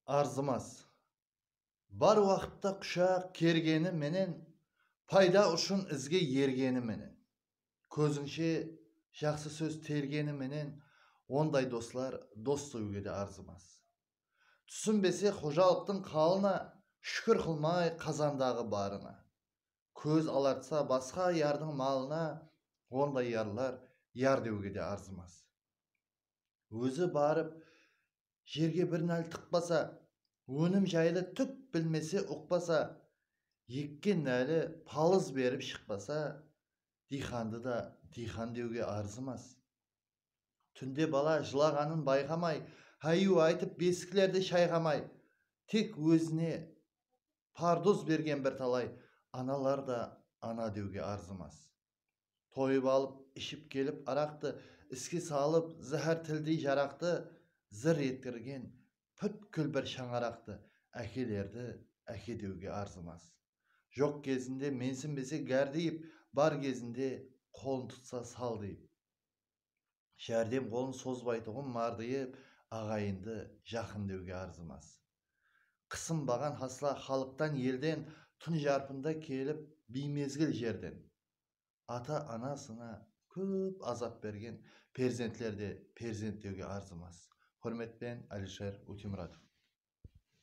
Arzımas. Bar waqıtta qushaq kergeni menen, payda ushın izge ergeni menen, kózińshe jaqsı sóz tergeni menen onday doslar dos sóyge de arzımas. Túsinbese xojalıqtıń qalına shúkir qılmay qazandaǵı barına. Kóz alartsa basqa yardıń malına onday yarlar yar dewge de arzımas. Ózi barıp jerge bir nál tıqpasa, ónim jaylı túk bilmese, uqpasa, ekken náli palız berip shıqpasa, diyxandı da diyxan dewge arzımas. Túnde bala jılaǵanın bayqamay, háyúi aytıp besiklerdi shayǵamay, tek ózine parduz bergen birtalay analar da ana dewge arzımas. Toyıp alıp, iship kelip araqtı, Iske salıp, záhár tildey jaraqtı, Zır etkirgen pútkil bir shańaraqtı, Ákelerdi áke dewge arzımas. Joq gezinde mensinbese gárdiyip, Bar gezinde qolın tutsa saldıyıp. járdem qolın sozbaytuǵın mardıyıp aǵayındı, jaqın dewge arzımas. Qısınbaǵan hasla xalıqtan elden tún jarpında kelip biymezgil jerden ata anasına kóp azap bergen perzentler de perzent dewge arzımas. Húrmetpen Alisher Ótemuratov.